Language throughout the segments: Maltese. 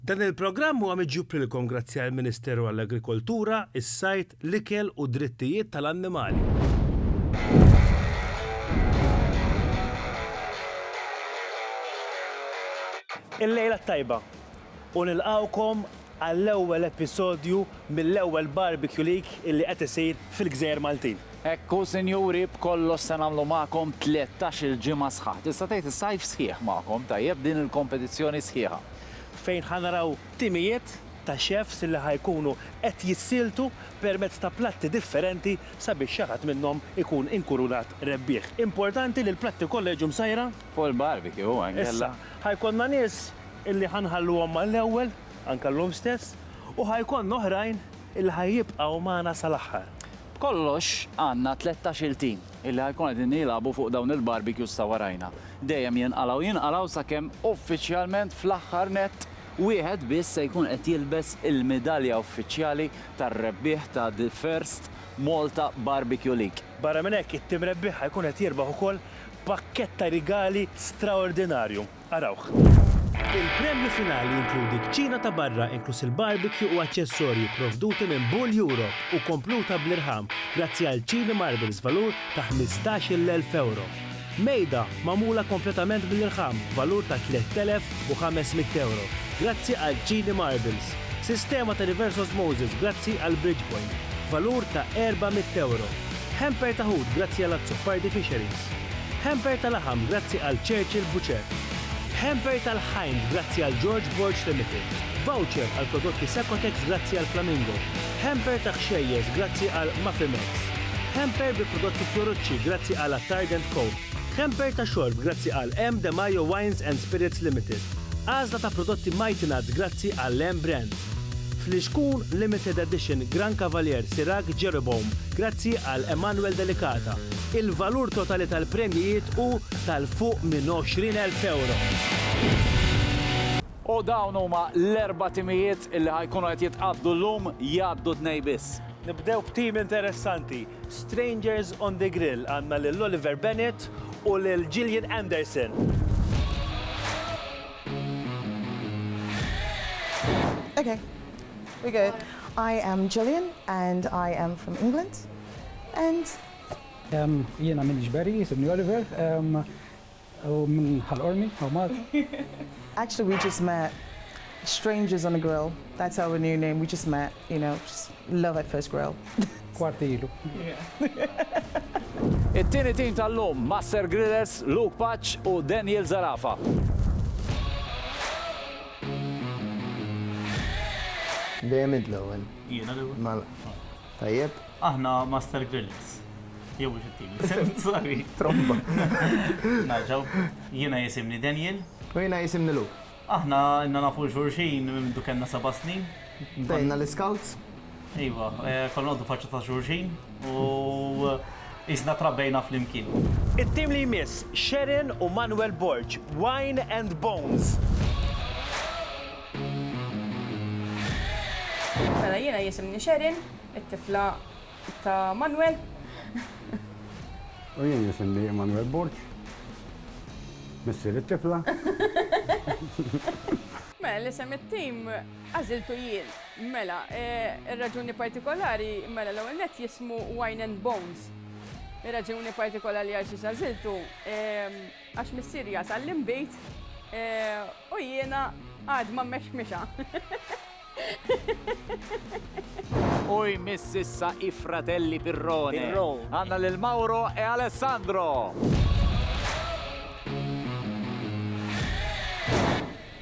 Dan il-programm huwa miġjub lilkom grazzi għall-Ministeru għall-Agrikoltura, is-Sajd, l-Ikel u d-Drittijiet tal-Annimali. Il-lejla t-tajba u nilqgħukom għall-ewwel episodju mill-ewwel Barbecue League illi qed isir fil-Gżejjer Maltin. Hekk hu sinjuri, b'kollox se nagħmlu magħkom tlettax-il ġimgħa sħaħ. Tista' tgħid is-sajf sħiħ magħkom, tajjeb, din il-kompetizzjoni sħiħa. fejn ħa naraw timijiet ta' chefs li ħa jkunu qed jissieltu permezz ta' platti differenti sabiex xi ħadd minnhom ikun inkurunat rebbieħ. Importanti li l-platti kollha jiġu msajra. Fuq il-barbecue anke la. Issa, ħa jkollna nies illi ħa nħalluhom mal-ewwel, anke llum stess, u ħa jkollna oħrajn illi ħa jibqgħu magħna sal-aħħar. B'kollox għandna tlettax-il tim. illi ħa jkunu qegħdin jilagħbu fuq dawn il-barbecues ta' warajna. Dejjem jinqalgħu jinqalgħu sakemm uffiċjalment fl-aħħar nett wieħed biss se jkun qed jilbes il-midalja uffiċjali tar-rebbieħ ta' The First Malta Barbecue League. Barra minn hekk, it-tim rebbieħ ħa jkun qed jirbaħ ukoll pakkett ta' rigali straordinarju. Arawh. Il-premju finali jinkludi kċina ta' barra inkluż il-barbecue u aċċessorji pprovduti minn Bull Europe u kompluta bl-irħam grazzi għal Chili Marbles b'valur ta' ħmistax-il elf ewro. Mejda magħmula kompletament bl-irħam b'valur ta' tlett elef u ħames mitt ewro grazzi għal Chili Marbles. Sistema ta' reverse osmosis grazzi għal Bridgepoint b'valur ta' erba' mitt ewro. Hamper ta' ħut grazzi għal Azzopardi Fisheries. Hamper ta' laħam grazzi għal Churchill Butcher. Hamper tal-ħajn grazzi għal George Borg Limited. Voucher għal prodotti Sacotex grazzi għal Flamingo. Hamper ta' ħxejjeż grazzi għal Mafimex. Hamper bi prodotti Fiorucci grazzi għal Attard and Co. Hamper ta' xorb grazzi għal M. De Majo Wines and Spirits Limited. Għażla ta' prodotti Mighty Nuts grazzi għal M. Brand. Flixkun Limited Edition Gran Cavalier Sirach Jeroboam grazzi għal Emanuel Delicata. Il-valur totali tal-premjijiet hu tal-fuq minn 20,000 ewro. U dawn huma l-erba' timijiet li ħa jkunu qed jitqabdu llum, jgħaddu tnejn biss. Nibdew b'tim interessanti, Strangers on the Grill, għandna lil Oliver Bennett u lil Gillian Anderson. Okay, we're good. I am Gillian and I am from England and Jiena m'iniex Barry, isibni Oliver, u minn Ħal Qormi, hawn Malta. Actually we just met strangers on a grill, that's our new name, we just met, you know, just love at first grill. Kwarti ilu. It-tieni tim tal-lum, Master Grillers, Luke Paċ u Daniel Zarafa. Dejjem int l-ewwel. Jiena l-ewwel? Mela. Tajjeb. Aħna Master Grillers. Jew mhux it-team. Sorry. Tromba. Narġgħu. Jiena jisimni Daniel. U jiena jisimni Luke. Aħna ilna nafu xulxin minn mindu kellna seba' snin. Bdejna l-Iscouts. Iva. Konna noqogħdu faċċa ta' xulxin u qisna trabbejna flimkien. It-team li jmiss, Sharon u Manuel Borg, Wine and Bones. Mela jiena jisimni Sherin, it-tifla ta' Manwel. U jien jisimni Immanuel Borg, missier it-tifla. Mela l-isem it-tim għażiltu jien. Mela, ir-raġuni partikolari, mela l-ewwel nett jismu Wine and Bones. Ir-raġuni partikolari għal xiex għażiltu, Għax missieri jasal l-inbid u jiena għad ma mmexmixha. U jmiss issa i-fratelli Pirrone. Għandna lil Mauro e Alessandro.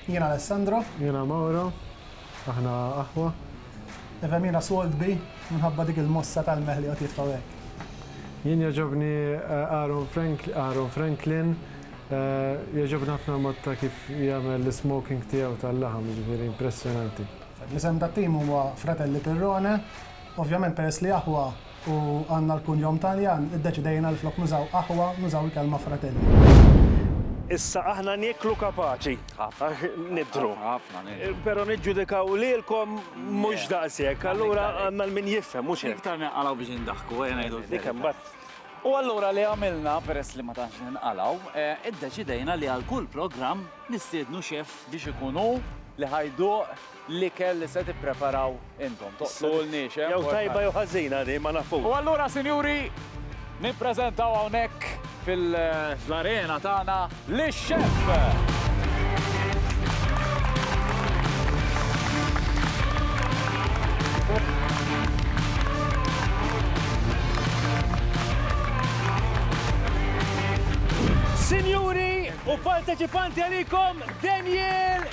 Jiena Alessandro. Jiena Mauro. Aħna aħwa. Even jiena sold bi minħabba dik il-mossa tal-meh li qed jitfgħu hekk. Jien jogħġobni Aaron Aaron Franklin, jogħġobni ħafna l-mod ta' kif jagħmel l-ismoking tiegħu tal-laħam, jiġifieri impressjonanti. L-isem tat-tim huwa Fratelli Pirrone, ovvjament peress li aħwa u għandna l-kunjom Taljan, iddeċidejna li flok nużaw aħwa, nużaw il-kelma fratelli. Issa aħna nieklu kapaċi. Għax nidhru. Però niġġudikaw lilkom mhux daqshekk. Allura għandna l-min jifhem, mhux hekk. Iktar ninqalgħu biex indaħku, ejja ngħidu hekk. U allura li għamilna, peress li ma tantx ninqalgħu, iddeċidejna li għal kull programm nistiednu xeff biex ikun hu li ħa jduq. l-ikel li se tippreparaw intom. Toqtluhulniex, eh? Jew tajba jew ħażina din, ma nafux. U allura, sinjuri, nippreżentaw hawnhekk fil-arena tagħna lix-Chef! Sinjuri u parteċipanti għalikom Daniel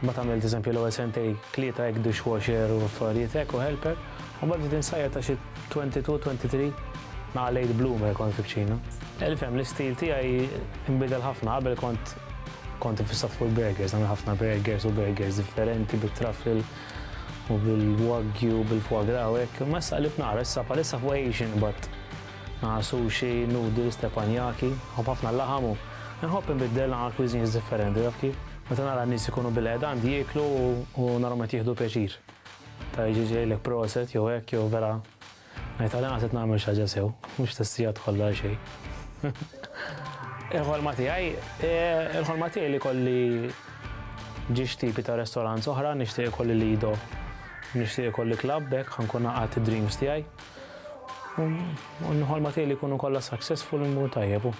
Mbagħad għamilt eżempju l-ewwel sentej tlieta hekk dishwasher u affarijiet hekk u helper, u mbagħad bdejt insajjar ta' xi twenty two, twenty three naqa' late bloomer kont fil-kċina. Ifhem, l-istil tiegħi nbidel ħafna, qabel kont kont iffissat fuq il-burgers, nagħmel ħafna burgers u burgers differenti bit-truffle u bil-wagyu u bil-foie gras u hekk, imma issa qlibt naqra, issa bħalissa fuq Asian qbadt. Għal sushi, noodles, tè panjaki, nħobb ħafna l-laħam u nħobb inbiddel għal cuisines differenti, taf kif? Meta nara n-nies ikunu bilqgħeda għandi jieklu u narahom qed jieħdu pjaċir. Ta' jiġi jgħidlek proset jew hekk jew vera ngħid għal inqas qed nagħmel xi ħaġa sew, mhux stess sigħat kollha għal xejn. Il-ħolma tiegħi, il-ħolma tiegħi li jkolli ġiex tipi ta' restaurants oħra, nixtieq ikolli Lido, nixtieq ikolli club, hekk ħa nkun haqqat id-dreams tiegħi. U nħolma tiegħi li jkunu kollha successful immur tajjeb u.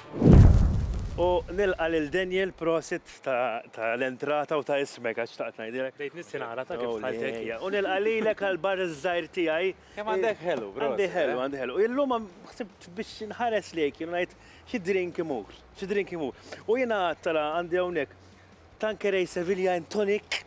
U nilqa' lil Daniel prosit ta' l-entrata u ta' ismek għax xtaqt ngħidilek. Bdejt nissi nara ta' kif dħaltek. U nilqa' lilek għal bar iż-żgħir tiegħi. Kemm għandek ħelu, prosit. Għandi ħelu, għandi ħelu. Illum ħsibt biex inħares lejk jien u ngħid xi drink imur, xi drink imur. U jiena għadt ara għandi hawnhekk Tanqueray Sevilla and Tonic.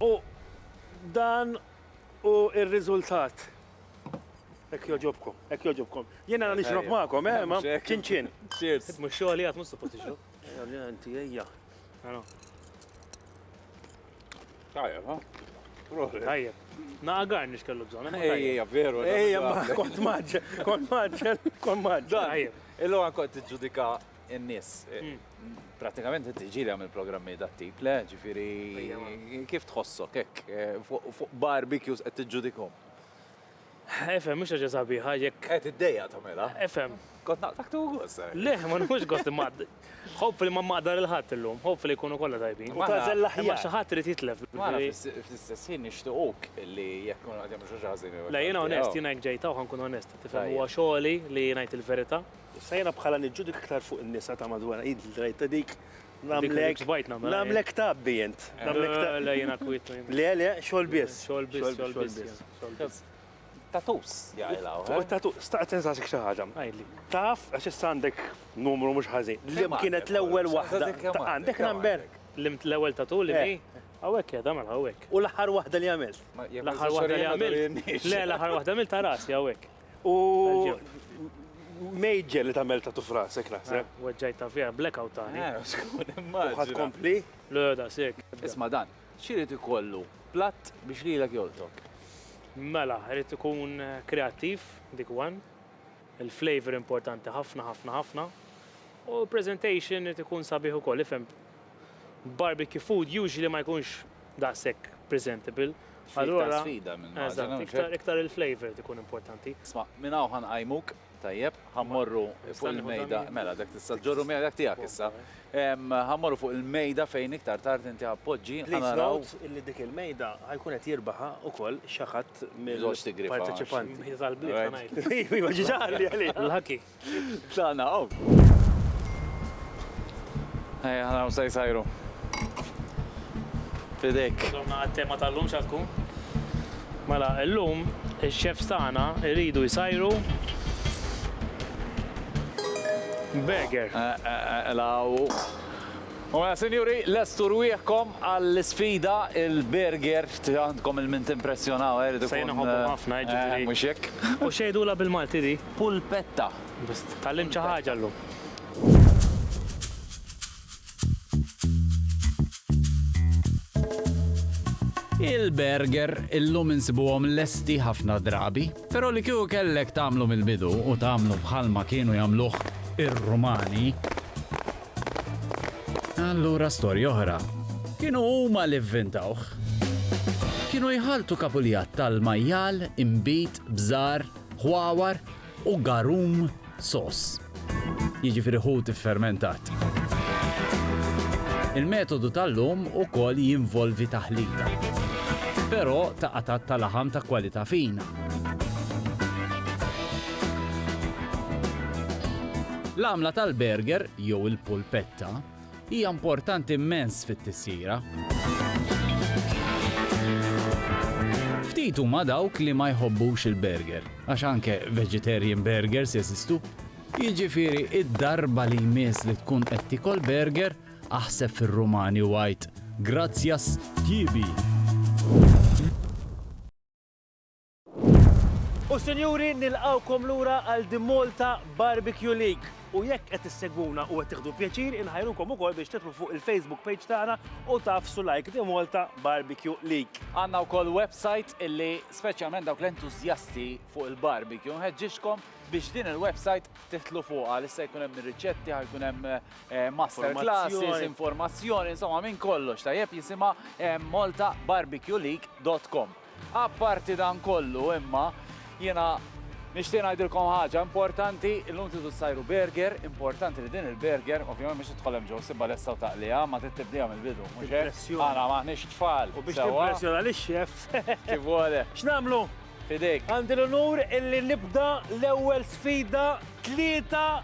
U dan hu r-riżultat. Hekk jogħġobkom, hekk jogħġobkom. Jien għandna nixrob magħkom, eh, ma ċin ċin. Cheers. Mhux xogħli għad mhux suppost tixrob. Ejja, ejja. Tajjeb, ha? Proset. Tajjeb. Naqa garnix kellu bżon. Eh, Ejja, veru. Ejja, ma kont maġġel, kont maġġel, kont maġġel. Tajjeb. Illu għan kont ġudika n-nis. Eh, hmm. Pratikament inti ġili għamil programmi da tip, le, ġifiri, kif tħossok, ek, eh, fuq barbecues għed t-ġudikom? Efhem, mhux ħaġa sabiħa jekk. Qed iddejjaq tagħmilha. Efhem. Kont naqtak tu gost. Eh. Le, ma nħux gost imma. Hopefully ma maqdar il-ħadd illum, hopefully jkunu kollha tajbin. U tażel l-aħjar. Ma xi ħadd irid jitlef. Ma fl-istess ħin nixtiequk li jekk kun qed jagħmlu xi ħażin. Le, jiena onest, jiena jekk ġejta u ħankun onest, tifhem huwa xogħli li ngħid il-verità. Sejna bħala niġġudik iktar fuq in-nisa ta' madwar id l-drajta dik Nagħmlek nagħmlek tabbi int. Le jiena kwiet. Le le, xogħol biss. Xogħol biss, xogħol biss. Tatus jaqilha. Eh? Tatus, staqt tinsasik xi ħaġa. Għidli. Taf, għax issa għandek numru mhux ħażin. Li kienet l-ewwel waħda. Għandek number? L-ewwel tatu li eh. Għawek, eh, damel għawek. U l-ħar wahda li għamil. L-ħar wahda li għamil. Le, l-ħar wahda għamil ta' rasi għawek. U Major li tagħmel tatu frasek naħseb. Weġġajt ta' fija, blackout tani. Ħadd kompli? Le, da sek. Isma' dan, x'irid ikollu platt biex lilek joltok? Mela, irid ikun kreattiv, dik one. Il-flavor importanti ħafna, ħafna, ħafna. U l-presentation irid ikun sabiħ ukoll, ifhem. Barbecue food usually ma jkunx daqshekk presentable, allura iktar il-flavour qed ikun importanti. Isma', minn hawn ħa nqajmuk, tajjeb, ħa mmorru fuq il-mejda, mela dak tista' ġġorru miegħek dak tiegħek issa. Ħa mmorru fuq il-mejda fejn iktar tard inti ħa tpoġġi. Please note illi dik il-mejda ħa jkun qed jirbaħha wkoll xi ħadd mill-parteċipanti. Mejda tal-bliet ħa ngħidlek. Iva, ġiġa qalli għaliha. L-ħaki. Tlaqna hawn. Ejja, ħana hawn se jsajru. Fidek. Domna għat-tema tal-lum xa tkun? Mela, l-lum il-chefs tagħna iridu jsajru Beger. Eh, eh, eh, law. U mela, sinjuri, lestu rwieħkom għall-sfida il-burger għandkom il-mint impressjonaw, għeridu. Sejna ħobbu ħafna, ġifiri. Mux jek. U xejdu la bil-Malti di. Pulpetta. Tgħallimt xi ħaġa llum. Il-burger illum insibuhom lesti ħafna drabi, però li kieku kellek tagħmlu mill-bidu u tagħmlu bħal ma kienu jagħmluh ir-Rumani, allura storja oħra. Kienu huma li vvintawh. Kienu jħaltu kapuljat tal-majjal imbit bżar ħwawar u garum soss, jiġifieri ħut iffermentat. Il-metodu tal-lum ukoll jinvolvi taħlita, però ta' qatgħat ta' laħam ta' kwalità fina. L-għamla tal-burger jew il-pulpetta hija importanti immens fit-tisjira. Ftit huma dawk li ma jħobbux il-burger, għax anke vegetarian burgers jeżistu. Jiġifieri id-darba li jmiss li tkun qed tiekol burger, aħseb fir-Rumani u għid, Grazzjas, tjibi! U sinjuri, nilqgħukom lura għal The Malta Barbecue League. U jekk qed issegwuna u qed tieħdu pjaċir, inħajrukom ukoll biex tidħlu fuq il-Facebook page tagħna u tagħfsu like The Malta Barbecue League. Għandna wkoll website illi speċjalment dawk l-entużjasti fuq il-barbecue nħeġġixkom biex din il-website titlu fuqha li se jkun hemm riċetti, jkun hemm eh, master classes, informazzjoni, insomma minn kollox tajjeb jisimha eh, maltabarbecueleague.com. Apparti dan kollu, imma, jiena nixtieq ngħidilkom ħaġa importanti, illum tridu ssajru burger, importanti li din il-burger, ovvjament mhux se tidħol hemm ġewwa ssibha lesta u taqliha, ma trid tibdiha mill-bidu, mhux hekk? Impressjoni. Aħna m'aħniex tfal, sewwa? U biex timpressjona lix-chef. Kif vole. X'nagħmlu? F'idejk. Għandi l-unur illi nibda l-ewwel sfida, tlieta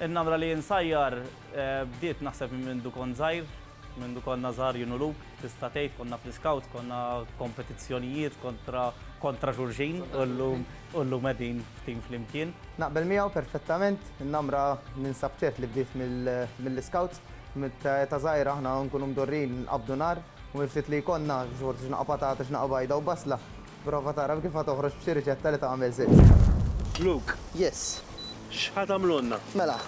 In-namra li insajjar bdiet naħseb minn mindu kont żgħir, mindu konna żgħar jien u Luke, tista' tgħid konna fl-iskawt, konna kompetizzjonijiet kontra kontra xulxin u llum u llum qegħdin f'tim flimkien. Naqbel miegħu perfettament, in-namra ninsab ċert li bdiet mill-iskawts. Ta' żgħir aħna nkunu mdorrijin nqabbdu nar u mill-ftit li jkollna, xi ftit xnaqa patata, xnaqa bajda u basla, Prova tagħraf kif ħa toħroġ b'xi riċetta li tagħmel żitt. Luke. Yes. X'ħa tagħmlulna? Mela,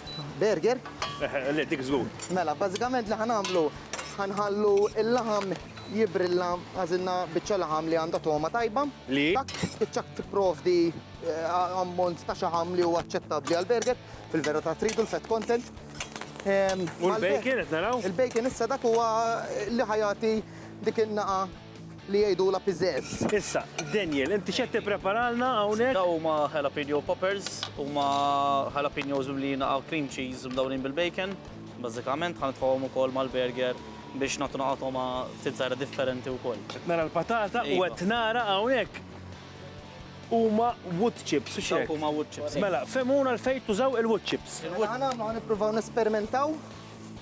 burger. Eħe, le, dik żgur. Mela, bażikament li ħa nagħmlu, ħa nħallu l-laħam jibbrilla, għażilna biċċa laħam li għandha togħma tajba. Li? Dak spiċċa tipprovdi ammont ta' xaħam li huwa aċċettabbli għall-burger, fil-verità tridu l-fat content. U l-bacon qed naraw? Il-bacon issa dak huwa li ħa jagħti dik in-nagħa. li jgħidulha piżeż. Issa, Daniel, inti x'qed tippreparalna hawnhekk? Dawn huma jalapeno poppers, huma jalapenos mimlijin naqa' cream cheese mdawrin bil-bacon, bażikament, ħa nitfgħuhom ukoll mal-burger biex nagħtu naqa' togħma ftit żgħira differenti wkoll. Qed nara l-patata u qed nara hawnhekk huma wood chips, hux hekk? Dawk huma wood chips. Mela, fehmuna għalfejn tużaw il-wood chips. Mela ħa nagħmlu, ħa nippruvaw nesperimentaw.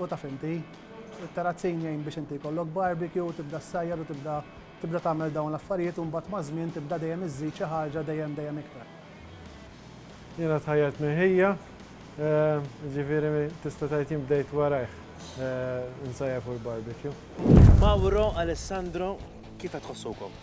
U taf inti, it-terrazzin jgħin biex inti jkollok barbecue u tibda ssajjar u tibda tibda tagħmel dawn l-affarijiet u mbagħad maż-żmien tibda dejjem iżżid xi ħaġa dejjem dejjem iktar. Jiena tħajjart minn ħija, jiġifieri tista' tgħid jien bdejt warajh insajjar fuq il-barbecue. Mauro, Alessandro, kif qed tħossukom?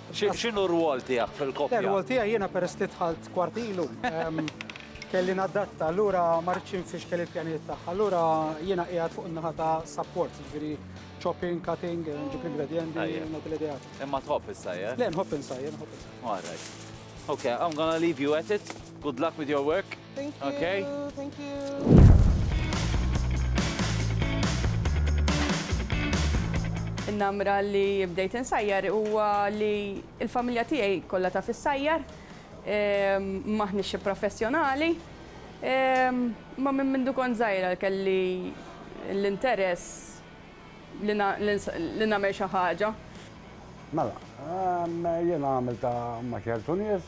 X'inhu r-rwol tiegħek fil-koppja? Ir-rwol tiegħi jiena peress li dħalt kwart ilu, kelli nadatta, allura ma ridtx infixkel il-pjanijiet tagħha. Allura jiena qiegħed fuq in-naħa ta' support, jiġifieri chopping, cutting, nġib l-ingredjenti, nagħti l-ideat. Imma tħobb issajjar? Le, nħobb insajjar, nħobb insajjar. All right. Okay, I'm gonna leave you at it. Good luck with your work. Thank you. Okay. Thank you. In-namra li bdejt insajjar huwa li l-familja tiegħi kollha ta' fis-sajjar, ehm, maħniex xi professjonali, ehm, ma minn mindu kont żgħira kelli l-interess li nagħmel xi ħaġa. Mela, ehm, jiena għamilta ma' ċertu nies,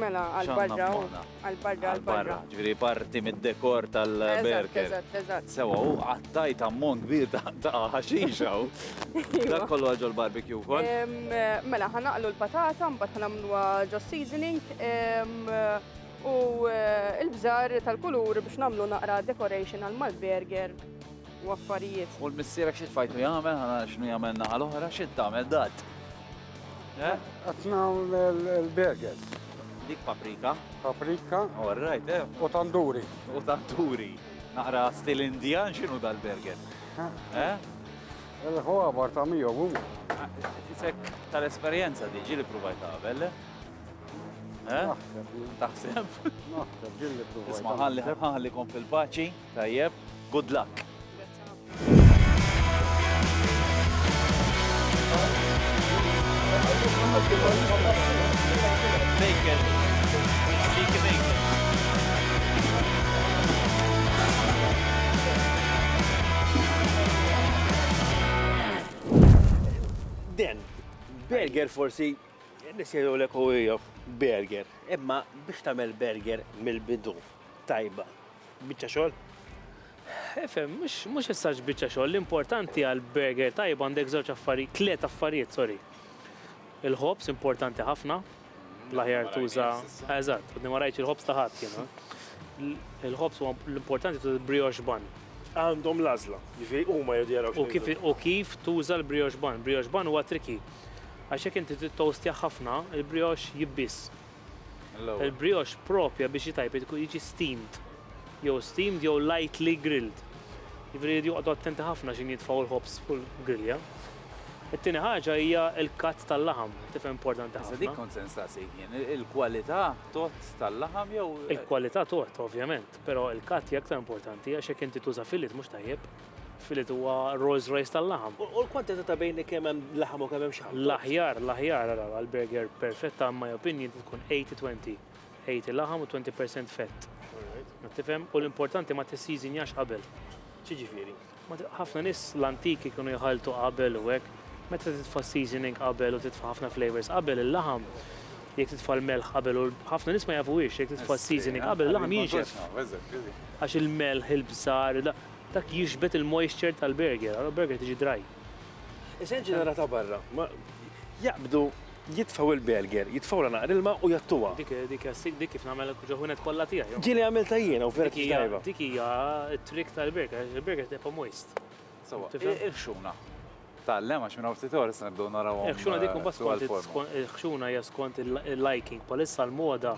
Mela, għal-barra, għal-barra, għal-barra. Ġviri parti mid-dekor tal-berker. Eżatt, eżatt. Sewa, u għattajt ammont kbir ta' ħaxixa. Dak kollu għagħu l-barbecue kol. Mela, ħanaqlu l-patata, mbatt ħanamlu ġo seasoning. U eh, il-bżar tal-kulur biex namlu naqra decoration għal-mal-burger u affarijiet. U l-missira xie tfajtu jgħamil, ħana xnu jgħamil naħal oħra, xie tagħmel dat. Qed nagħmel il-burgers. Dik paprika. Paprika. All right, eh. U tanduri. U tanduri. Naqra stil Indian x'inhu dal-burger? Eh? Il-ħwabar ta' miegħu huma. Isek tal-esperjenza di ġili provajt qabel. Eh? Taħseb? Naħseb ġili provajt. Isma' ħalli ħallikom fil-paċi. Tajjeb, good luck. Den, burger forsi nisjedu l-ek u burger. Imma biex tamel burger mill-bidu tajba. Biċċa xogħol? Efhem, mhux mhux ħsarx biċċa xogħol, l-importanti għal burger tajba għandek żewġ affarijiet, tliet affarijiet, sorry. Il-ħobs importanti ħafna, l-aħjar tuża, eżatt, għadni ma rajtx il-ħobs ta' ħadd jiena. Il-ħobs huwa l-importanti tuża brioche bun. Għandhom l-għażla, jiġifieri huma jridu jaraw U kif x'inhu. u kif tuża l-brioche bun. Brioche bun huwa triki. Għax jekk inti tittoastjah ħafna, il-brioche jibbiż. Il-brioche proprja biex jtajpet iku jiġi steamed jew steamed jew lightly grilled. Jiġifieri jridu joqogħdu attenti ħafna x'in jitfgħu l-ħobż fuq il-grilja. It-tieni ħaġa hija l-cut tal-laħam, tifhem importanti ħafna. Iżda dik kont se nistaqsik jien, il-kwalità tgħodd tal-laħam jew. Il-kwalità tgħodd ovvjament, però l-cut hija aktar importanti għax jekk inti tuża fillet mhux tajjeb. Fillet huwa Rolls Royce tal-laħam. U l-kwantità ta' bejn kemm hemm laħam u kemm hemm xaħam? L-aħjar, l-aħjar ara għall-burger perfetta in my opinion tkun 80-20. 80 laħam u 20% fett. Ma tifhem? U l-importanti ma tisseasonjax qabel. X'jiġifieri? Ħafna nies l-antiki kienu jħalltu qabel u hekk. Meta titfa' s-seasoning qabel u titfa' ħafna flavours qabel, il-laħam jekk titfa' l-melħ qabel u ħafna nies ma jafuhiex jekk titfa' s-seasoning qabel il-laħam jinxef. Għax il-melħ, il-bżar, Dak jixbet il-moisture tal-burger, għal burger tiġi dry. Issa ġenera ta' barra, jaqbdu jitfaw il-burger, jitfaw la naqra ilma u jattuha. Dik dik dik kif nagħmel ġoħunet kollha tiegħi. Ġieli għamilta jiena u vera tajba. Dik hija t-trick tal-burger, il-burger tibqa' moist. Sewa, il-ħxuna. Tgħallem għax minn hawn ftit ora se nibdew naraw. Il-ħxuna dik imbagħad skont il-ħxuna hija skont il-liking, bħalissa l-moda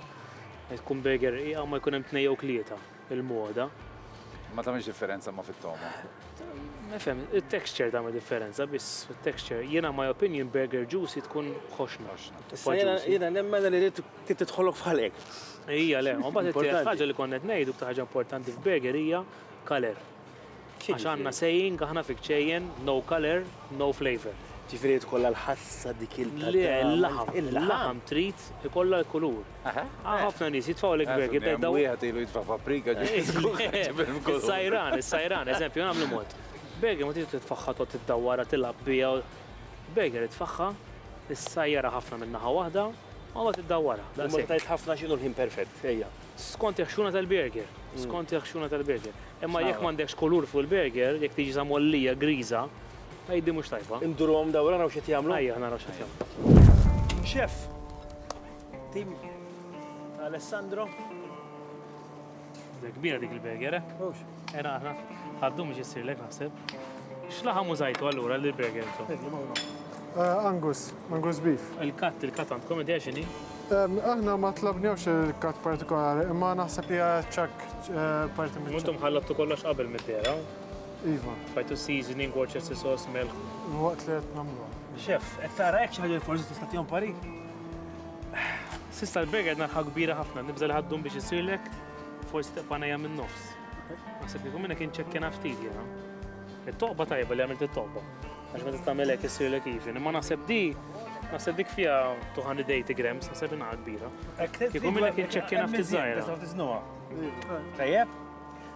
tkun burger rqiqa ma jkun hemm tnejn jew tlieta. il-moda. Ma tagħmilx differenza ma fit-togħma. Nifhem, it-texture tagħmel differenza biss, it-texture. Jiena my opinion burger juicy tkun ħoxna. Jiena nemmen li rrid titħolok f'ħalek. Ija le, u mbagħad it-tielet ħaġa li konnet ngħidu b'ta' ħaġa importanti f'burger hija kaler. F'xiex għandna saying aħna fi kċejjen, no colour, no flavour. Ġifieri jrid ikollha l-ħassa dik il Le, il-laħam, il-laħam trid ikollha l-kulur. Hawn ħafna nies jitfgħu lek burger tgħid dawn. Wieħed ilu jitfa' paprika ġifieri. Sajran, is-sajran, eżempju, nagħmlu mod. Burger ma tridx titfagħha tqgħod iddawwarha tilgħab biha. Burger itfagħha, issajjarha ħafna minn naħa waħda, u mbagħad iddawwarha. Imma tgħid ħafna x'inhu l-ħin perfett, ejja. Skont il-ħxuna tal-burger. Skont il-ħxuna tal-burger. Imma jekk m'għandekx kulur fuq il-burger, jekk tiġi sa mgħollija griża, tgħidli mhux tajba. Induruhom dawra naraw x'qed jagħmlu? Ejja, naraw x'qed jagħmlu. Chef! Tim Alessandro. Kbira dik il-burger, eh? Mhux. Ena aħna, għaddu miex jissirlek naħseb. X'laħam użajtu allura li burger to? Eh, Angus, Angus beef. Il-kat, il-kat għandkom idea xini? Aħna ma tlabnewx il-kat partikolari, imma naħseb li ċak eh, parti minn. Muntum ħallattu kollox qabel mid-dera. Iva. Fajtu seasoning, Worcester sauce, milk. Waqt li qed nagħmlu. Chef, qed tara hekk xi ħaġa forsi tista' tihom pari? Sista l-burger narħa kbira ħafna, nibża li ħaddum biex isirlek, forsi teqpanejja minn nofs. Naħseb li minnek inċekkina ftit jena. Il-toqba tajba li għamilt il-toqba. Għax meta tamelek jessir l even. Imma naħseb di, naħseb dik fija 280 grams, naħseb inna kbira. Kiku minnek inċekkina ftit zaħira. Tajjeb?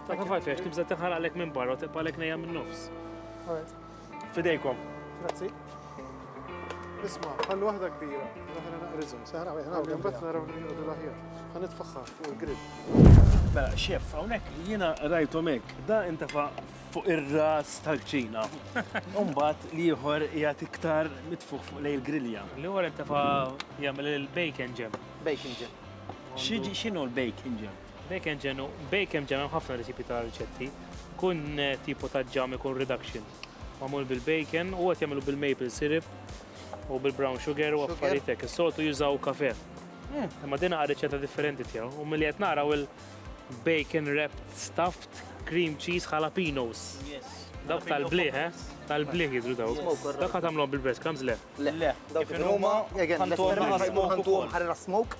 Ta' kif għalfex, tibza t-ħar għalek minn barra, t-tibqa għalek nejja minn nofs. Fidejkom. Grazzi. Isma, ħallu waħda kbira, l-oħra naqriżhom. Saħra wieħed naqriżhom. Imbagħad naraw li jgħodu l-aħjar. Ħa nitfaħħa fuq il-grill. Mela, xef, hawnhekk jiena rajthom hekk, da intefa' fuq ir-ras tal-kċina. Umbagħad li ieħor jgħat iktar mitfuħ fuq lej il-grilja. Li ieħor intefa' jagħmel il-bacon jam. Bacon jam. X'inhu l-bacon jam? Bacon ġem, bacon ġem hemm ħafna recipe ta' riċetti. Kun tipo ta' ġam ikun reduction. Mamul bil-bacon u għat jagħmlu bil-maple syrup u bil-brown sugar u affarijiet hekk. Is-soltu jużaw kafe. Hmm. Imma din għal riċetta differenti tiegħu. U milli qed naraw il-bacon wrapped stuffed cream cheese jalapenos. Yes. Dawk tal-bliħ, eh? Tal-bliħ jidru daw. Dawk għat għamlom bil-breadcrumbs, le? Le, dawk kif huma, għantom ħarra smoke.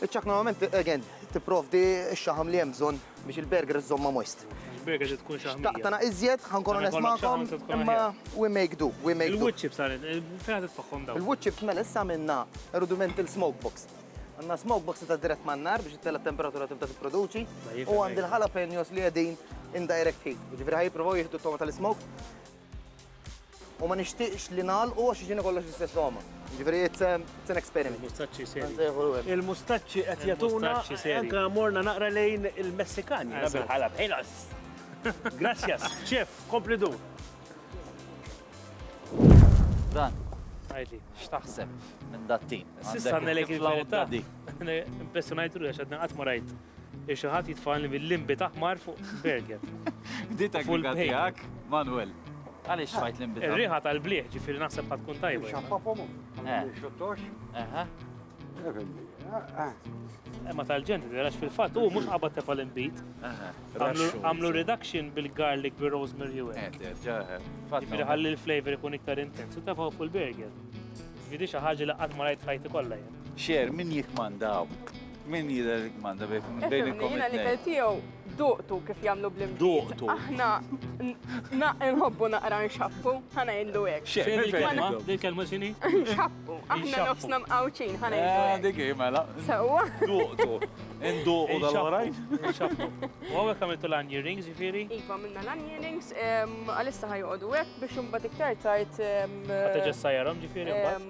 Iċ-ċakk normalment, again, tipprovdi x-xaħam li hemm bżonn biex il-burger iżżommha moist. Il-burger trid tkun xaħmija. Xtaqt tagħna iżjed, ħa nkun onest magħkom, imma we make do, we make do. Il-wood chips għal fejn qed tfaħħhom dawn? Il-wood chips mela issa għamilna rudimental smoke box. Għandna smoke box ta' dirett man-nar biex ittella t-temperatura tibda tipproduċi u għandi l-jalapenos li qegħdin in direct heat. Jiġifieri ħa jippruvaw jieħdu t-togħma tal-ismoke U ma nixtieqx li nagħlqu għax jiġini kollox l-istess għoma. Ġifieri it's, um, it's an experiment. Il-mustaċċi seri. Il-mustaċċi qed jagħtuna anke morna naqra lejn il-Messikani. Bil-ħalab. Ħilas. Grazzjas, ċef, kompli dur. Dan. Għajli. X'taħseb minn dat-tim? Sissa nelek il-flawta. Impressionajt ruħi għax għadna qatt ma rajt. Biex xi ħadd jitfagħalni bil-limbit aħmar fuq berget. Bdiet il-griga tiegħek, Manwel. Għaliex tfajt limbit? Ir-riħa tal-bliħ ġifieri naħseb ħadd tkun tajba. Xappapom. Xottox. Aha. Ma tal-ġent, għax fil-fat, u mux qabad tefa l-imbit. Għamlu reduction bil-garlic bil rosemary u għek. Ġifiri ħalli l-flavor ikun iktar intens, u tefa fuq il-burger. Ġifiri xaħġa li għatma rajt ħajti kolla jen. Xer, min jikkmanda hawn? Min jidher li kmanda bejn ikom it-tnejn? Ifhimni, jiena l-ikel tiegħu duqtu kif jagħmlu bl-imġid. Duqtu. Aħna nħobbu naqra nxappu, ħa ngħidlu hekk. Xer, x'inhi l-kelma? L-kelma x'inhi? Nxappu. Aħna nofsna mqawċin, ħa ngħidlu hekk. Dik hi mela. Sewwa. Duqtu. Induqu dal-oħrajn? Nxappu. U hawnhekk għamiltu l-onion rings, jiġifieri? Iva, għamilna l-onion rings, għalissa ħa joqogħdu hekk biex imbagħad iktar tard. Ħa terġa' ssajjarhom ġifieri mbagħad?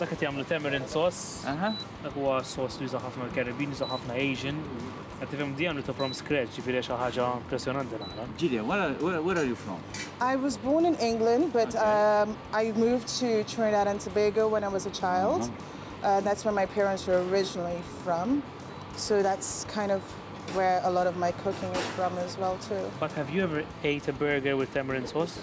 Dak qed jagħmlu tamarind sauce. Aha. Dak huwa sauce li juża ħafna l-Caribbean, juża ħafna Asian. Qed tifhem di għamlu ta' from scratch, ġifieri xi ħaġa impressjonanti naqra. Gillian, where are, where, where are you from? I was born in England, but okay. um, I moved to Trinidad and Tobago when I was a child. Uh -huh. uh, that's where my parents were originally from. So that's kind of where a lot of my cooking is from as well too. But have you ever ate a burger with tamarind sauce?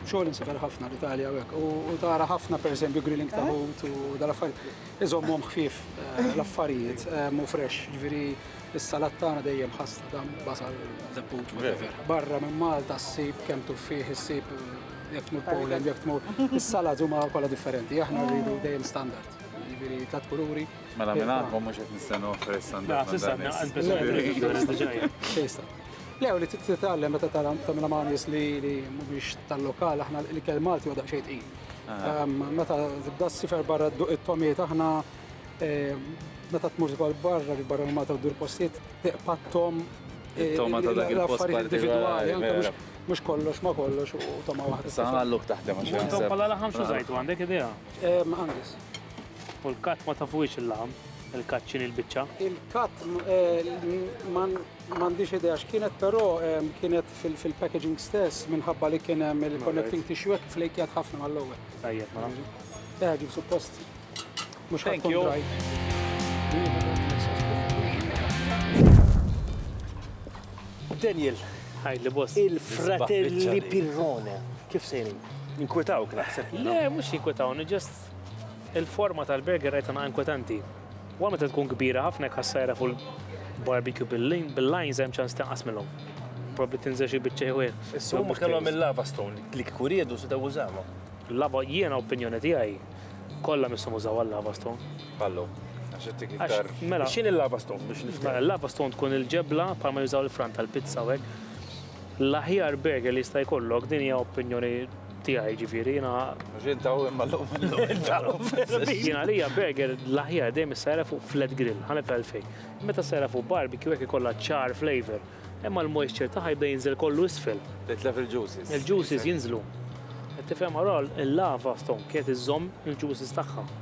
Xogħol imsafer ħafna l-Italja u hekk. U tara ħafna pereżempju grilling ta' ħut u dal-affarijiet. Iżommhom ħfief eh, l-affarijiet eh, mu fresh, ġifieri s-salat tagħna dejjem ħasta dam basal zepput whatever. Barra minn Malta ssib kemm tuffih issib eh, jekk tmur Poland, jekk tmur is-salat huma kollha differenti. Aħna rridu dejjem standard. Ġifieri tlat kuluri. Mela minn għandkom mhux qed nistennu fresh standard. Xejsta. Le, u li titgħallem meta tara tagħmilha ma' nies li mhumiex tal-lokal, aħna l-ikel Malti huwa daqsxejn tqil. Meta tibda ssifer barra dduq it-tomiet aħna meta tmur ukoll barra li barra minn Malta ddur postijiet tiqpa' t-tom l-affarijiet individwali anke mhux mhux kollox ma' kollox u togħma waħda. Sa għall-lok taħdem għax. U intom bħala laħam x'użajtu għandek idea? Angus. U l-cut ma tafuhiex il-laħam? Il-cut x'inhi l-biċċa? Il-cut ma M'għandix idea x'kienet però kienet fil-packaging stess minħabba li kien hemm il-connecting tissue hekk flejkjat ħafna mal-ewwel. Tajjeb ma. Eh, ġib suppost. Mhux ħadd dry. Daniel, ħajli boss. Il-fratelli Pirrone, kif sejrin? Inkwetawk naħseb. Le, mhux jinkwetawni, ġest il-forma tal-burger rajtana inkwetanti. Wara meta tkun kbira ħafna jekk ħassajra fuq il-barbecue bil-lines hemm ċans tinqas minnhom. Probabli tinżel xi biċċa jew ieħ. Issa huma kellhom il-lava stone li kieku riedu setgħu użawha. Lava jiena opinjoni tiegħi kollha misshom użaw għal-lava stone. Pallu. Għax qed tik iktar. Mela. X'in il-lava stone biex nifhem? Mela l-lava stone tkun il-ġebla bħalma jużaw il-fran tal-pizza u hekk. L-aħjar burger li jista' jkollok din hija opinjoni Tiegħi, jiġifieri jiena. Mhux int hawn imma llum Jiena għalija burger l-aħjar dejjem issajra fuq flat grill, ħa nifhem għalfejn. Meta ssajra fuq barbecue hekk ikollha ċar flavour, imma l-moisture tagħha jibda jinżel kollu isfel. Titlef il-juices. Il-juices jinżlu. Qed tifhem Aurore, il-lava stone kienet iżżomm il-juices tagħha.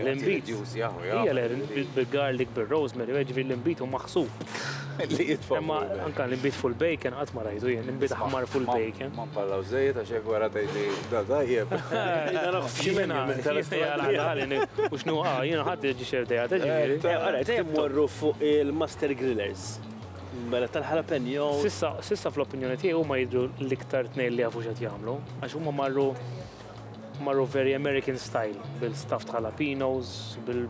L-inbid. Hija l-inbid bil-garlic, bil-rosemary, ġifi l-inbid u maħsub. Li jitfa. Imma anka l-inbid full bacon qatt ma rajdu jien, l-inbid ħmar full bacon. Ma mpallaw żejjed għax hekk wara tgħidli da tajjeb. Jiena u x'nu jiena ħadd iġi xerdejja tiġifieri. Ara, se mmorru fuq il-master grillers. Mela tal-jalapeno. Sissa fl-opinjoni tiegħi huma jidhru l-iktar tnejn li jafu x'qed jagħmlu għax huma marru Marru very American style, bil stuffed jalapenos, bil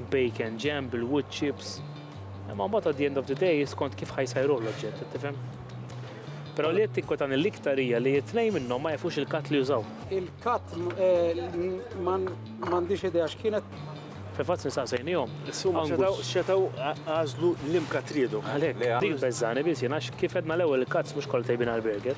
bacon jam, bil wood chips. Imma mbagħad at the end of the day skont kif ħajsajruh l-oġġett, tifhem? Però li qed tinkwetani l-iktar hija li t-tnejn minnhom ma jafux il-cut li jużaw. Il-cut eh, m'għandix idea x'kienet. Fil-fatt nistaqsejnihom. Insumma xetaw għażlu l-imka tridu. Għalhekk. Dik beżżani biss jiena kif edna l-ewwel il-cuts mhux kollha tajbin għall-burger.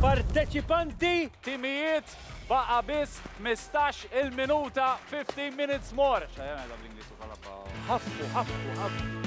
Parteċipanti, timijiet, baqa' biss ħmistax il-minuta, 15 minutes more. Ħaffu, ħaffu, ħaffu.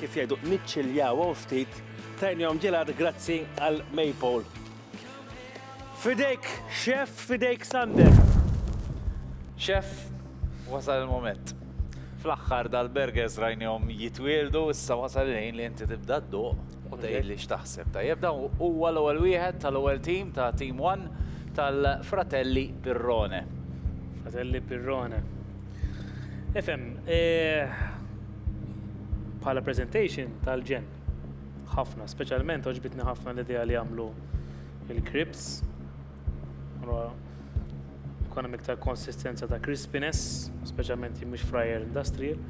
Kif jgħidu niċċiljaw hawn ftit tajnihom ġelat grazzi għal Maypole. Fidejk xef, fidejk Sander. Xef, wasal il-moment. Fl-aħħar dal-burgers rajnihom jitwieldu, issa wasal il-ħin li inti tibda d-duq u tgħid li x'taħseb. Tajjeb dan huwa l-ewwel wieħed tal-ewwel team ta' Team One tal-Fratelli Pirrone. Fratelli Pirrone. Ifhem, eh, bħala presentation tal-ġen. Ħafna, speċjalment oġbitni ħafna l-idea li għamlu il-krips. Konna miktar konsistenza ta' crispiness, speċjalment jimmix fryer industrial.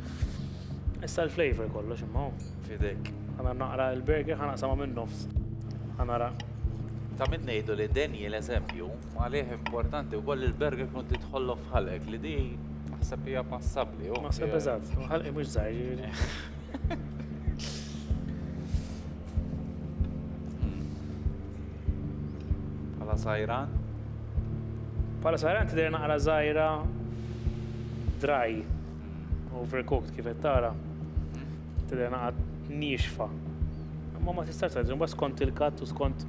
Issa l-flavor kollox imma. Fidek. Għana naqra il-burger ħana sama minn nofs. Għanara. Ta' minn nejdu li denji l-eżempju, għalih importanti u koll il-burger kun titħollu fħalek li di Naħseb hija passabbli. Naħseb eżatt, ħalqi mhux żgħir jiġri. Pala sajran? Pala sajran tidher naqra żgħira dry, overcooked kif qed tara. Tidher naqra nixfa. Ma ma tistax tgħid, skont il-katt u skont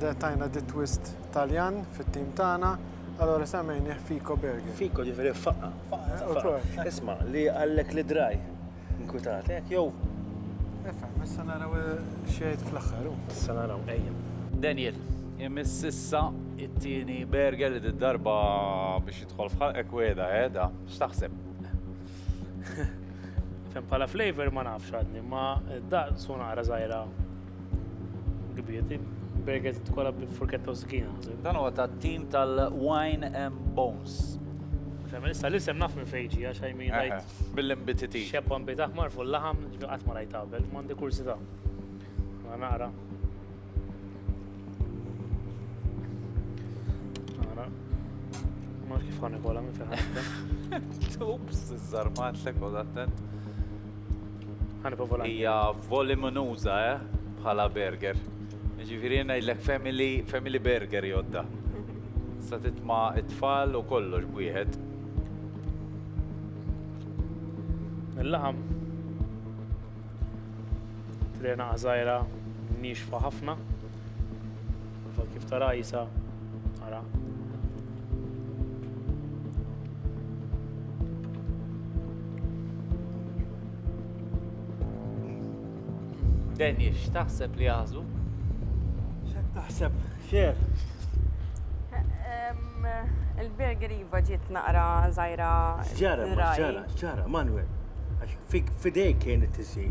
De tajna di twist Taljan fit-tim tagħna, allora semmejnih Fico Burger. Fico ġifieri faqqa. Faqqa. Isma' li għallek li draj. Inkwitat, hekk jew. Ifhem, issa naraw xejn fl-aħħar. Issa naraw ejja. Daniel, imiss issa it-tieni burger li d-darba biex jidħol f'ħalqek weda, eh, da, x'taħseb? Fem bħala flavor ma nafx għadni, ma daqsu naqra żgħira Gbieti, burgers tkolla bil-furketta u skina. Dan huwa ta' tim tal-Wine and Bones. Femmen, issa l-isem naf minn fejġi, għax għajmi għajt. Bil-imbititi. Xebba mbit aħmar fuq l-laħam, għat ma rajt għabel, mandi kursita. Ma naqra. Naqra. Ma kif għan ikolla minn fejn. Ups, iż-żarmat l-ekol attent. Hija voliminuża, eh, bħala burger. Ġifieri ngħidlek family, family burger jodda. Sa titma' it-tfal u kollox b'wieħed. Il-laħam. Trena għażajra nixfa ħafna. Ukoll kif tara Għisa, ara. Denji, x'taħseb li jaħżu? X'qed taħseb? Xer? Il-burger iva ġiet naqra żgħira. Ġara, ġara, ġara, Manuel. Għax fidejk kien it-tisir.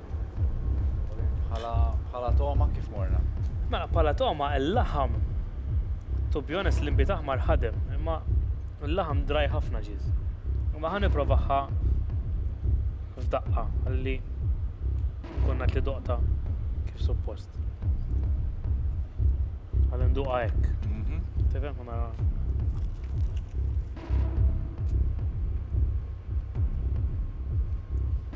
Bħala toma kif morna? Mela, bħala toma l-laħam, to be honest, l-imbit aħmar ħadem, imma l-laħam draj ħafna ġiż. Imma ħan niprovaħħa f'daqqa għalli konna li doqta kif suppost. Għalli nduqa hekk. Mhm. Tibem ħana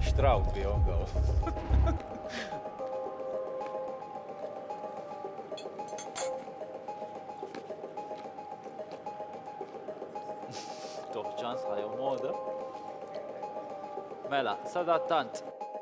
Xtraw bihom daw. Toħ ċans ħajja moda. Mela, sadattant.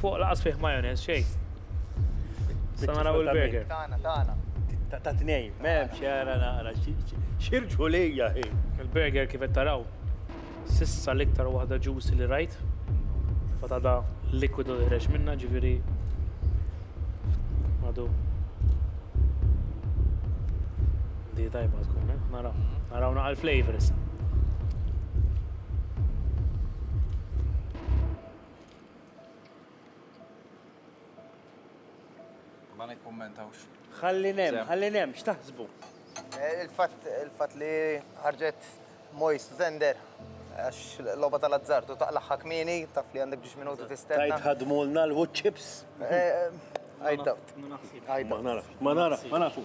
Fuq laqas fih majonez xej. Sa naraw il-burger. Tana, tana. Ta' tnej, mem xera naqra, xirġu lija hi. Il-burger kif taraw, sissa l-iktar waħda ġusi li rajt. Fata da likwidu ħreġ minna ġifiri. Għadu. Di tajba tkun, eh? Naraw, naraw naqal flavors. Ma nikkummentawx. Ħalli nem, ħalli nem, x'taħsbu? Eh, il-fatt il-fatt li ħarġet Moist Zender għax l-loba tal-azzartu taqlaħħa kmini, taf li għandek biex minuti tistenna. Tajt ħadmulna l-wood chips. Eh, I doubt. Ma nara, ma nara, ma nafu.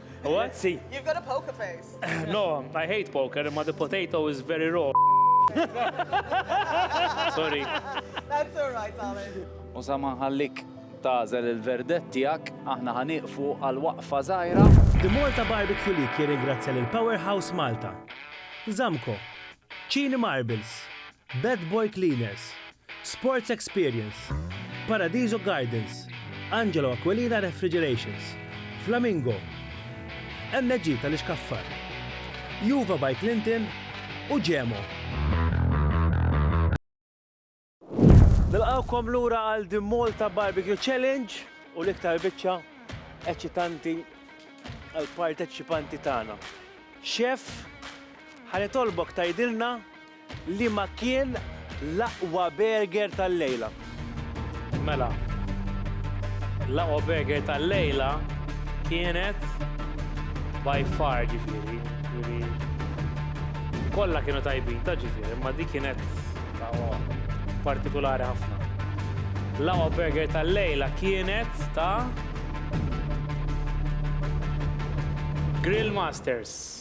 What? See, You've got a poker face. no, I hate poker, imma the potato is very raw. Sorry. That's all right, darling. U sa ma nħallik tażel il-verdett tiegħek, aħna ħaniqfu għal waqfa żgħira. The Malta Barbecue League jirringrazzja lil Powerhouse Malta, Zamco, Cini Marbles, Bad Boy Cleaners, Sports Experience, Paradiso Gardens, Angelo Aquilina Refrigerations, Flamingo, MG tal-Ixkaffar, Juva by Clinton u Gemo. Nilqgħukom lura għal The Malta Barbecue Challenge u l-iktar biċċa eċitanti għall-parteċipanti tagħna. Chef, ħanitolbok tgħidilna Liema kien l-aqwa burger tal-lejla? Mela, l-aqwa burger tal-lejla kienet by far ġifieri, ġifieri kollha kienu tajbin ta' ġifieri, imma dik kienet aqwa partikulari ħafna. L-aqwa burger tal-lejla kienet ta' Grill Masters.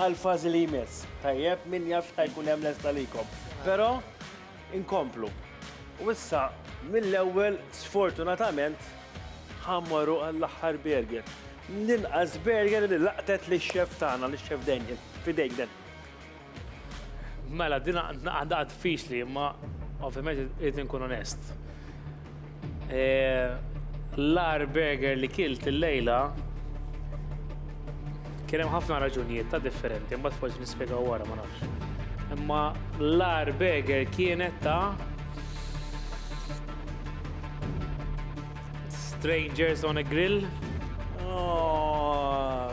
Għall-fażi li jmiss. Tajjeb, min jaf x'ħa jkun hemm lest għalikom. Però inkomplu. U issa mill-ewwel sfortunatament ħa mmorru għall-aħħar burger. L-inqas burger li laqtet li xef tagħna, li xef Daniel. Fidejk dan. Mela, din għandha għad fix li, imma ovvjament irid inkun onest. L-agħar burger li kilt il-lejla kien hemm ħafna raġunijiet ta' differenti, mbagħad forsi nispjegaw wara ma nafx. Imma l-agħar burger kienet ta' Strangers on a Grill. Oh,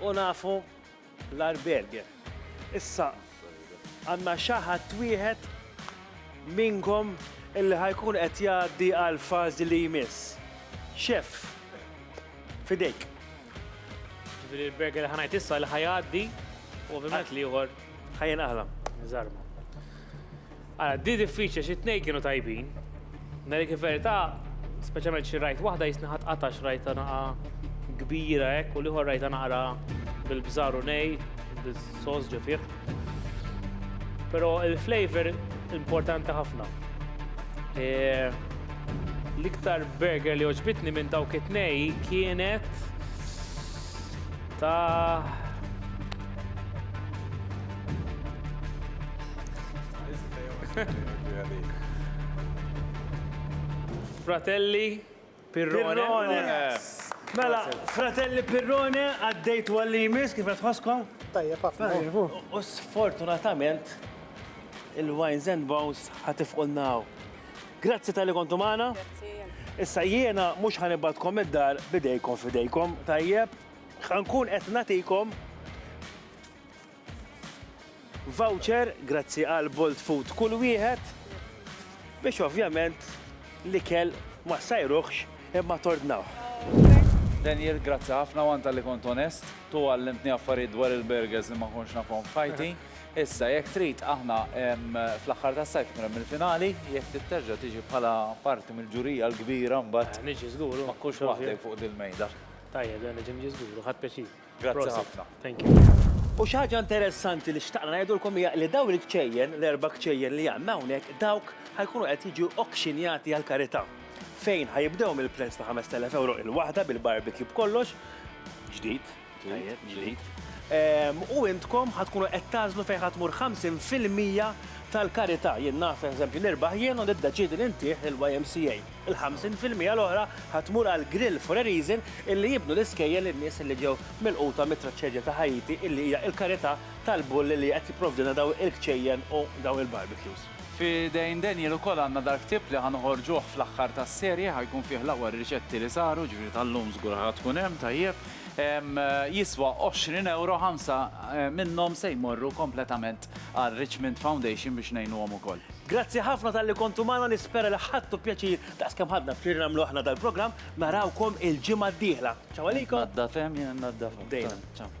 U nafu l-Arberger. Issa għandna xi ħadd wieħed minnkom illi ħa jkun qed jgħaddi għall-fażi li jmiss. Chef, fidejk. Ġifieri l-burger li ħa ngħid issa li ħa jgħaddi u ovvjament l-ieħor Ħajjen aħla, żarma. Għala, di diffiċli xi tnej kienu tajbin. Nari kif verità, speċjalment xi rajt waħda jisni ħadd qatax rajta naqa kbira hekk u liħor rajta naqra bil-bżar u nej, bil-sos ġifier. Però il-flavor importanti ħafna. E, l-iktar burger li oġbitni minn dawk it-nej kienet Ta' Fratelli Pirrone. Mela, fratelli Pirrone, għaddejt għalli jmiss kif tħosskom? Tajjeb, ħafna. U sfortunatament, il-Wines and Bones ħatifqulnaw. Grazzi tal-li kontu maħna. Issa jiena mux ħanibatkom id-dar bidejkom fidejkom, tajjeb, ħankun qed natikom voucher grazzi għal Bolt Food kull wieħed biex ovvjament li kell ma sajruħx imma tordnaw. Daniel, grazzi ħafna għanta li kont onest, tu għallimtni affarijiet dwar il-burgers li ma konx nafhom f'ħajti. Issa, jekk trid, aħna fl-aħħar tas-sajf ikun hemm il-finali, jekk trid terġa' tiġi bħala parti mill-ġurija l-kbira mbagħad. Niġi żgur u. Ma tkunx waħdek fuq din il-mejda. Tajjeb, le niġi niġi żgur u ħadt pjaċir. Grazzi ħafna. Thank you. U xi ħaġa interessanti li xtaqna ngħidulkom hija li dawn il-kċejjen, l-erba' kċejjen li għandna hawnhekk, dawk ħa jkunu qed jiġu auctionjati għall-karità. Fejn ħa jibdew mill-prezz ta' 5,000 ewro il-waħda bil-barbecue b'kollox, ġdid, Tajjeb, ġdid. U intkom ħa tkunu qed tagħżlu fejn ħa tmur 50 fil-mija tal-karità. Jien naf, eżempju, nirbaħ jien u niddeċiedi li ntih il-YMCA. Il-50 fil-mija l-oħra ħa tmur għal Grill for a Reason illi jibnu l-iskejjel lin-nies illi ġew milquta mit-traċedja ta' Ħaiti illi hija l-karità tal-bulli li qed jipprovdilna dawn il-kċejjen u dawn il-barbecues. F'idejn Daniel ukoll għandna dal-ktieb li ħa noħorġuh fl-aħħar tas-serje, ħa jkun fih l-aqwa riċetti li saru, ġifieri tal-lum żgur ħa tkun hemm, tajjeb. Jiswa 20 ewro, ħamsa minnhom se jmorru kompletament għal Richmond Foundation biex ngħinuhom ukoll. Grazzi ħafna talli kontu magħna, nispera li ħadtu pjaċir daqs kemm ħadna pjaċir li nagħmlu aħna dal-programm, narawkom il-ġimgħa d-dieħla. Ciao għalikom! Tnaddaf hemm, jiena nnaddaf hawn. Bdejna. Ciao.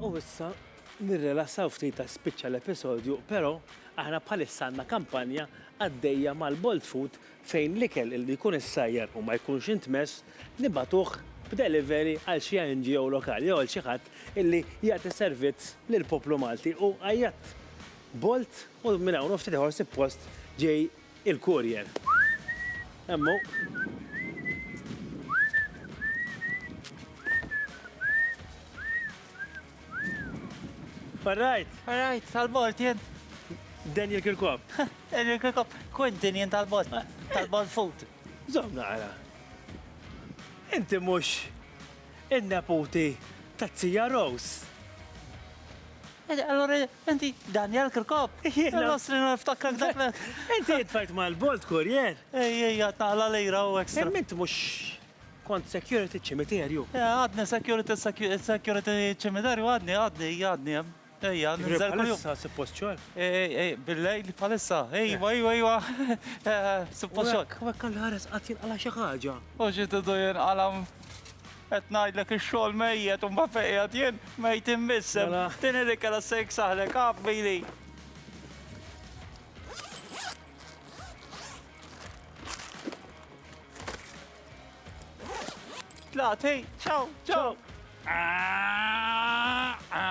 U issa nirrilassaw ftit għax spiċċa l-episodju, però aħna bħalissa għandna kampanja għaddejja mal-Bolt Food fejn l-ikel illi jkun issajjar u ma jkunx intmess nibagħtuh b'delivery għal xi NGO lokali jew għal xi ħadd illi jagħti servizz lill-poplu Malti u għajjatt Bolt u minn hawn u ftit ieħor suppost ġej Il-courier. Hemm hu. Farrajt! Farrajt, tal-bord jien. Daniel Kirkop. Daniel Kirkop, Quentin jien tal-bord. Tal-bord food. Zom naqra. Inti mhux in-neputi ta' Zija Rose. Allora Inti Daniel Kirkop? Jiena. L-Ostri no niftakrak dak l. Inti tfajt mal-Bolt Courier? Ej, ej, għad naqla lira u extra. Imma int mhux kont security ċ-ċimiterju? Eh, għadni security, security ċ-ċimiterju għadni, għadni, għadni hemm. Ejja, ninżel kuljum. Issa suppost xogħol? Ej, ej, bil-lejl bħalissa. Ejwa, ejwa, ejwa. Suppost xogħol. Wekk għall-ħares qatt jinqala' xi ħaġa. U xi tidu jinqala'. Qed ngħidlek ix-xogħol mejjet u mbagħad fejn qiegħed jien mejt immissem. Mela. Tieni li kellha se jiksaħlek af bili. Tlati, ciao, ciao. Ah, ah.